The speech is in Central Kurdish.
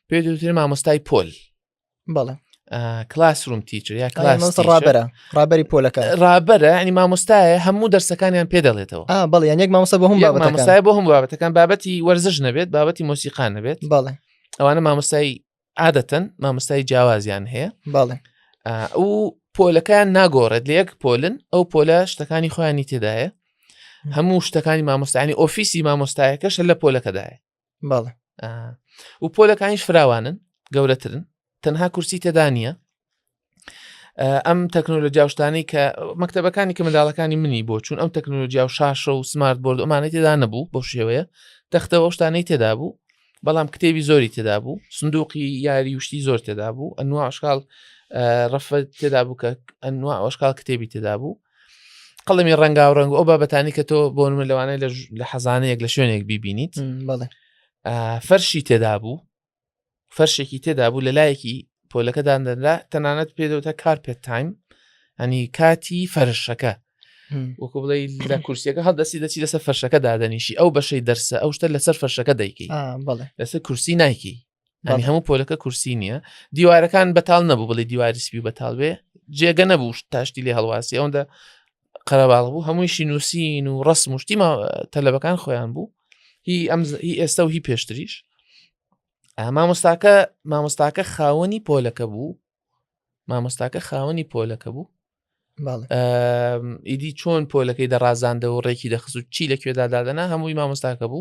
پێ دوتر مامۆستای پۆل بەڵێ کلاس روم تیچر یا کلاس ڕابرە ڕابری پۆلەکە ڕابرە ینی مامۆستایە هەموو دەرسەکانیان پێ دەڵێتەوە بەڵێ یان یەک مامۆستا بۆ هەم مامۆستای بۆ هەم بابەتەکان بابەتی وەرزش نەبێت بابەتی مۆسیقان نەبێت بەڵێ ئەوانە مامۆستای عادەتەن مامۆستای جیاوازیان هەیە بەڵێ ئەو پۆلەکان ناگۆڕێت لە یەک پۆلن ئەو پۆلە شتەکانی خۆیانی تێدایە هەموو شتەکانی مامۆستانی ئۆفیسی مامۆستایەکەش لە پۆلەکەدایە بەڵێ و پۆلەکانیش فراوانن گەورەترن تەنها کورسی تێدا نییە ئەم تەکنۆلۆژیاوشتانی کە مەکتتەبەکانی کە منداڵەکانی منی بۆ چون ئەم تەکنۆلۆژیا و شاشە و سمارت بۆرد ئەمانەی تێدا نەبوو بۆ شێوەیە تەختەوە شتانەی تێدا بوو بەڵام کتێبی زۆری تێدا بوو سندوقی یاری وشتی زۆر تێدا بوو ئەنواشکال ڕەفە تێدا بوو کە ئەنوا ئەوشکال کتێبی تێدا بوو قەڵمی ڕەنگاو ڕەنگ ئەو بابەتانی کە تۆ بۆ من لەوانەیە لە حەزانەیەک لە شوێنێک بیبینیت فەرشی تێدا بوو فەرشێکی تێدا بوو لە لایەکی پۆلەکەدان دەدا تەنانەت پێدەوتە کارپێت تایم ئەنی کاتی فەرشەکە وەکو بڵێ لە کورسیەکە هەڵدەستی دەچی لەسەر فەرشەکە دادەنیشی ئەو بەشەی دەرسە ئەو شتە لەسەر فەرشەکە دەیکەی لەسەر کورسی نایکی ئەنی هەموو پۆلەکە کورسی نییە دیوارەکان بەتال نەبوو بڵێ دیواری سپی بەتال بێ جێگە نەبوو تاشتی لێ هەڵواسی ئەوەندە قەرەباڵ بوو هەموویشی نووسین و ڕست مشتی ما تەلەبەکان خۆیان بوو هی ئەم هی ئێستا و هی پێشتریش مامۆستاکە مامۆستاکە خاوەنی پۆلەکە بوو مامۆستاکە خاوەنی پۆلەکە بوو ئیدی چۆن پۆلەکەی دەڕازاندەوە ڕێکی دەخست و چی لەکوێدا دادەنا هەمووی مامۆستاکە بوو